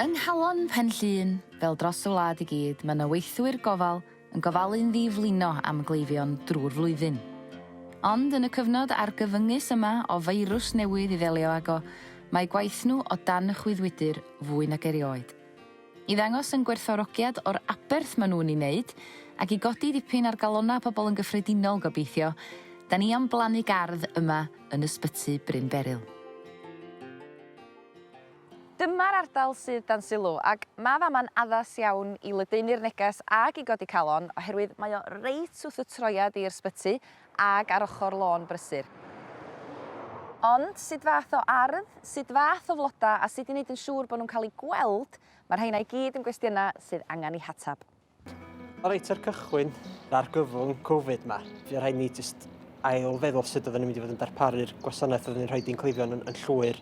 Yng Nghalon Pen Llŷn, fel dros y wlad i gyd, mae 'na weithwyr gofal yn gofalu'n ddi-flino am gleifion drwy'r flwyddyn. Ond yn y cyfnod argyfyngus yma o feirws newydd i ddelio ago, mae gwaith nhw o dan y chwyddwydr fwy nag erioed. I ddangos yn gwerthfawrogiad o'r aberth mae nhw'n ei wneud, ac i godi dipyn ar galonnau pobl yn gyffredinol gobeithio, 'da ni am blannu gardd yma yn Ysbyty Bryn Beryl. Dyma'r ardal sydd dan sylw ac mae fama'n addas iawn i ledaenu'r neges ag i godi calon oherwydd mae o reit wrth y troiad i'r sbyty ag ar ochr lôn brysur. Ond sut fath o ardd, sut fath o floda a sut i wneud yn siŵr bod nhw'n cael eu gweld, mae'r rheina i gyd yn gwestiynau sydd angen eu hateb. Reit ar cychwyn, yr argyfwng Covid ma, fe rhaid ni jyst ail feddwl sut oedden ni'n mynd i fod yn darparu'r gwasanaeth oedden ni'n rhoi di'n cleifion yn, yn llwyr.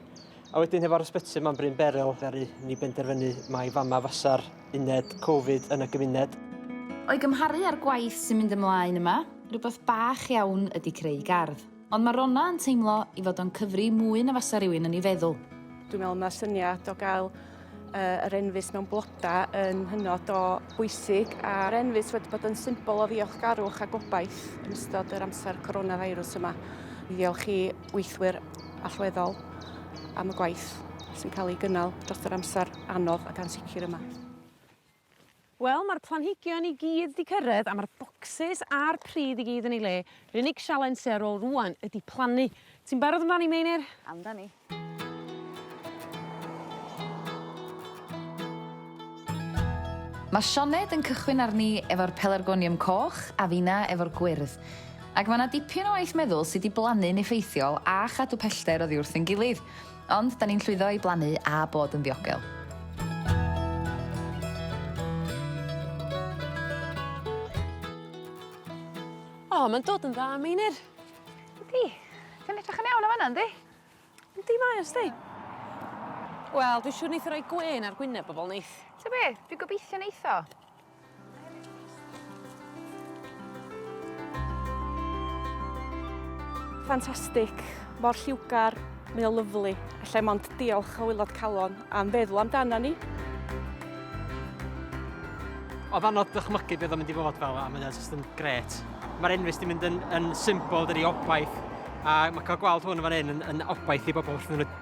A wedyn hefo'r ysbyty yma'n Bryn Berel, ddaru ni benderfynu mai fama fasa'r uned Covid yn y gymuned. O'i gymharu â'r gwaith sy'n mynd ymlaen yma, rhywbeth bach iawn ydy creu gardd. Ond mae Ronna yn teimlo i fod o'n cyfri mwy na fasa rhywun yn ei feddwl. Dwi'n meddwl mae'r syniad o gael uh, yr enfys mewn blodau yn hynod o bwysig a'r enfys wedi bod yn symbol o ddiolchgarwch a gobaith yn ystod yr amser coronavirus yma. Ddiolch i weithwyr allweddol am y gwaith sy'n cael ei gynnal dros yr amser anodd ac ansicr yma. Wel ma'r planhigion i gyd 'di cyrredd a ma'r bocsys a'r pridd i gyd yn ei le. Yr unig sialens sy ar ôl rŵan ydi plannu. Ti'n barod amdani Meinir? Amdani. Mae Sioned yn cychwyn arni efo'r pelargonium coch a finna efo'r gwyrdd. Ac mae 'na dipyn o waith meddwl sut i blannu'n effeithiol a chadw pellter oddi wrth ein gilydd. Ond 'da ni'n llwyddo i blannu a bod yn ddiogel. O, mae'n dod yn dda, Meinir. Ydi. Ti'n edrych yn iawn o fanna, yndi? Yndi, mae o, sti. Wel, dwi'n siŵr neith o roi gwên ar gwyneb bobl, neith? Ti'n be? Dwi'n gobeithio neith o. Ffantastig, mor lliwgar, mae o lyflu. Alla mond diolch o wylod calon am feddwl amdana ni. Oedd anodd dychmygu beth o'n mynd i fod fel a mae o jyst yn gret. Mae'r enfys di mynd yn, yn symbol dydi obaith a mae cael gweld hwn yn fan hyn yn, yn obaith i bobl wrth iddyn nhw